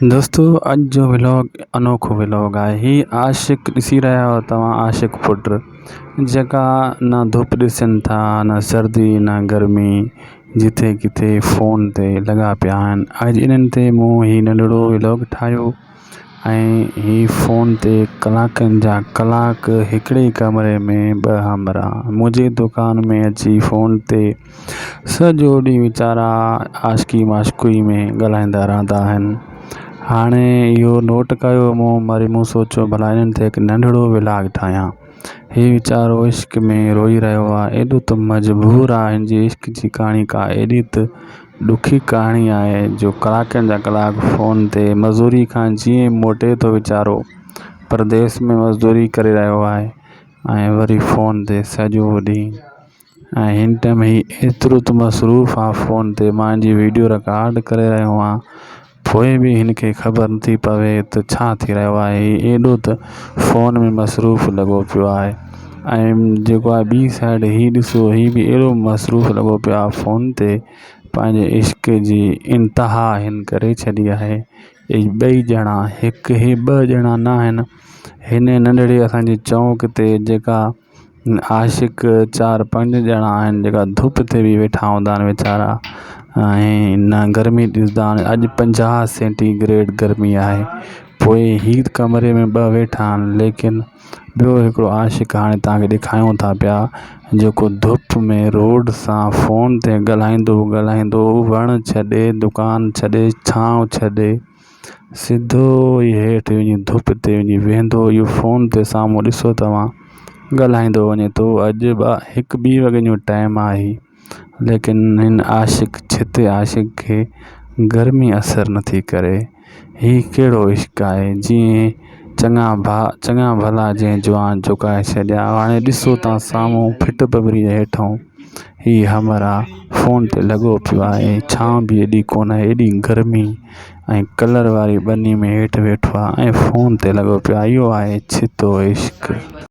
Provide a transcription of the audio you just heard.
دوستو اڄ جو ولاگ انوکو ولاگ آهي هي عاشق ڏسي رهيا آهيو توهان عاشق پٽ جيڪا نه ڌپ ڏسن ٿا نه سردي نه گرمي جتي ڪٿي فون تي لڳا پيا آهن اڄ انهن تي مون هي ننڍڙو ولاگ ٺاهيو ۽ هي فون تي ڪلاڪن جا ڪلاڪ هڪڙي ڪمري ۾ ٻه همراهه منهنجي دڪان ۾ اچي فون تي سڄو ڏينهن ويچارا عاشقي معشوقي ۾ ڳالهائيندا رهندا آهن هاڻي اهو نوٽ ڪيو مون وري مون سوچيو ڀلا هنن تي هڪ ننڍڙو ولاگ ٺاهيان هي ويچارو عشق ۾ روئي رهيو آهي ايڏو ته مجبور آهي هن جي عشق جي ڪهاڻي ڪا ايڏي ته ڏکي ڪهاڻي آهي جو ڪلاڪن جا ڪلاڪ فون تي مزوري کان جيئن موٽي ٿو ويچارو پرديس ۾ مزدوري ڪري رهيو آهي ۽ وري فون تي سڄو ڏينهن ۽ هن ٽئم هي ايترو ته مصروف آ فون تي مانجي ويڊيو رڪارڊ ڪري رهيو آ پوء به هن کي خبر نٿي پوي ته ڇا ٿي رهيو آهي هي ايڏو ته فون ۾ مصروف لڳو پيو آهي ۽ جيڪو آ ٻي سائيڊ هي ڏسو هي به ايڏو مصروف لڳو پيو آ فون تي پنهنجي عشق جي انتها هن ڪري ڇڏي آهي هي ٻئي ڄڻا هڪ هي ٻه ڄڻا ناهن هن ننڍڙي اسانجي چونڪ تي جيڪا عاشق چار پنج ڄڻا آهن جيڪا ڌپ تي به ويٺا هوندا آهن ويچارا ۽ نه گرمي ڏسندا آهن اڄ پنجاهه سينٽي گريڊ گرمي آهي پوء هي ڪمري ۾ ٻه ويٺا آهن ليڪن ٻيو هڪڙو عاشق هاڻي تاکي ڏيکاريون ٿا پيا جيڪو ڌپ ۾ روڊ سان فون تي ڳالهائيندو ڳالهائيندو وڻ ڇڏي دڪان ڇڏي ڇانو ڇڏي سڌو ئي هيٺ وڃي ڌپ تي وڃي ويهندو اهو فون تي سامهون ڏسو توهان ڳالهائيندو وڃي ٿو اڄ ٻه هڪ ٻي وڳي جو ٽائيم آهي ليڪن هن عاشق ڇت عاشق کي گرمي اثر نٿي ڪري هي ڪهڙو عشق آهي جيئن چڱا ڀا چڱا ڀلا جنهن جوان جهڪائي ڇڏيا هاڻي ڏسو ته سامهون ڦٽ ٻٻري جي هيٺئون هي همراهه فون تي لڳو پيو آهي ڇانو به ايڏي ڪونهي ايڏي گرمي ۽ ڪلر واري ٻني ۾ هيٺ ويٺو آهي ۽ فون تي لڳو پيو آهي اهو آهي ڇتو عشق.